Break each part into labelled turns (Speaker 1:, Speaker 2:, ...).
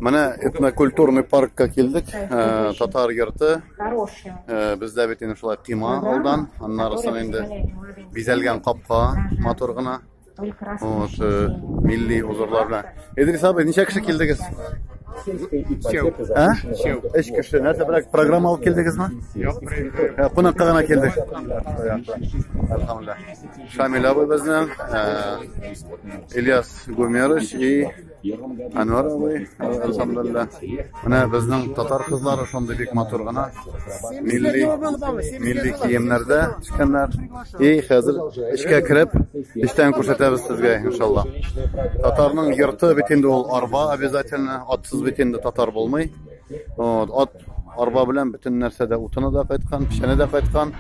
Speaker 1: Менә этнокультурный
Speaker 2: паркка килдек. Э, татар йорты. Э, бездә бит инде шулай кыйма алдан, аннарысын инде бизәлгән капка матур гына. Вот, э, милли узорлар белән. Идрис абый, ничә кеше килдегез? А? Эш кеше. Нәрсә белән программа алып килдегезме? Юк, кунакка гына килдек. Алхамдулилла. Шамиль абый безнең, Ильяс Гумерыч и Анвар абый, алхамдулилла. Менә безнең татар кызлары шундый бик матур гына милли милли киемнәрдә төшкәннәр. И хәзер эчкә кереп, эчтән күрсәтәбез сезгә, иншалла. Татарның йорты бит инде ул арба обязательно, атсыз бит инде татар булмый. Вот, ат арба белән бөтен нәрсә дә утыны да кайткан, печәне дә кайткан.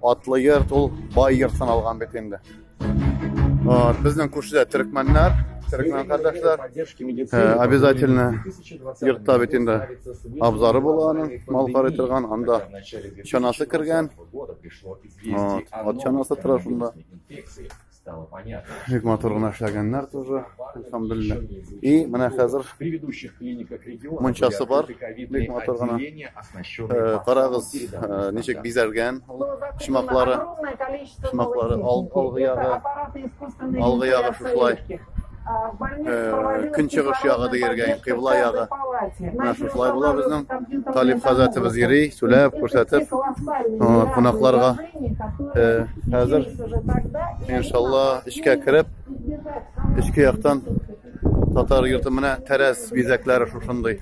Speaker 2: Атлы йорт ул бай йорт саналган бит инде. Вот, безнең күршедә төрекмәннәр, төрекмән кардәшләр. Э, обязательно йортта бит инде абзары була аның, мал карый торган, анда чанасы кергән. Вот, ат чанасы тора шунда. Бик матур гына эшләгәннәр тоже, ансамбльне. И менә хәзер мунчасы бар, бик матур гына. Э, карагыз, э, ничек бизәлгән ул шмаклары. Шмаклары алгы ягы, алгы ягы шушылай. көнчыгыш ягы дияргә инде кыйбла ягы менә шушылай була безнең талиб хәзрәтебез йөри сүләп күрсәтеп кунакларга хәзер иншалла эчкә кереп эчке яктан татар йорты менә тәрәз бизәкләре шушындый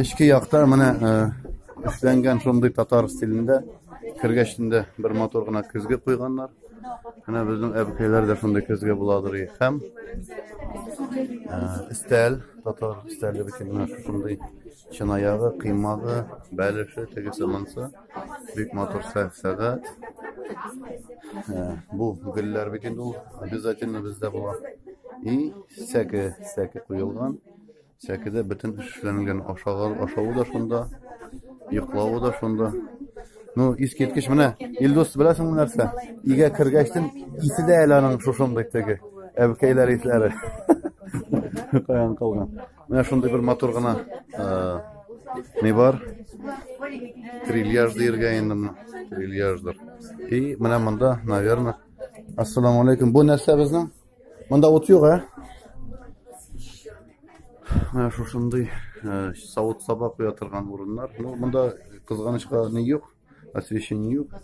Speaker 2: Эчке якта менә эшләнгән шундый татар стилендә кергәчендә бер матур гына көзге куйганнар. Менә безнең әбекәйләр дә шундый көзге буладыр и һәм өстәл, татар өстәле бит менә шундый чынаягы, кыймагы, бәлеше, тегесе монсы. Бик матур сәгать. Бу гөлләр бит инде ул обязательно бездә була. И сәке, сәке куелган. Сәкедә бөтен эш эшләнгән. Ашагар, ашавы да шунда, йоклавы да шунда. Ну, искиткеч менә Илдус беләсеңме нәрсә? Игә кергәчтен исе дә әле аның шушындый теге әбкәйләр исләре. Каян калган. Менә шундый бер матур гына не бар? Трильяж диергә инде моны. Трильяждыр. И менә монда, наверное. Ассаламу алейкум. Бу нәрсә безнең? Монда ут юк, ә? Менә шушындый э, савыт саба куя торган урыннар. Ну, монда кызганычка ни юк, освещение юк.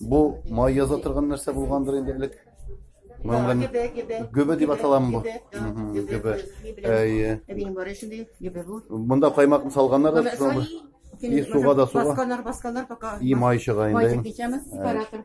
Speaker 2: Бу май яза торган нәрсә булгандыр инде элек. Монда гөбе дип аталамы бу? Гөбе. Әйе. Монда каймакны салганнар да шуны. И суга да суга. Басканнар, басканнар пока. И май чыга инде. Май чыга, сепаратор.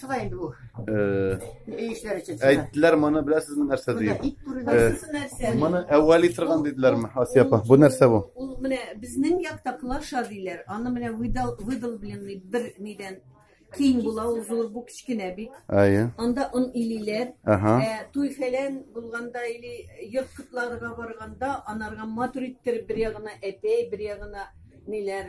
Speaker 2: Шулай инде
Speaker 3: бу. Э, Өй эшләре өчен.
Speaker 2: Әйттеләр моны беләсезме нәрсә диеп. Ит бүреләр. Э, нәрсә? Моны әвәли торган диделәрме, Асия апа? Бу нәрсә бу? Ул менә безнең
Speaker 3: якта клаша диләр. Аны менә выдал выдал белән бер нидән киң була, ул зур, бу кечкенә бит. Әйе. Анда он илиләр. Ага. Э, туй фәлән булганда или йорт кытларга барганда анарга матур иттереп бер ягына әтәй, бер ягына ниләр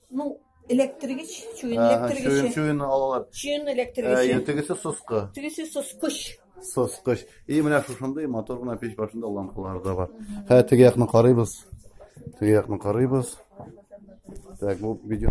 Speaker 3: Ну, электригеч, чуен электригеч. Чуен, чуен алалар.
Speaker 2: Чуен электригеч.
Speaker 3: Әйе, тегесе соскы.
Speaker 2: Тегесе соскыч.
Speaker 3: Соскыч.
Speaker 2: И менә шушындый мотор гына печ башында лампалар да бар. Хә, теге якны карыйбыз. Теге якны карыйбыз. Так, бу видео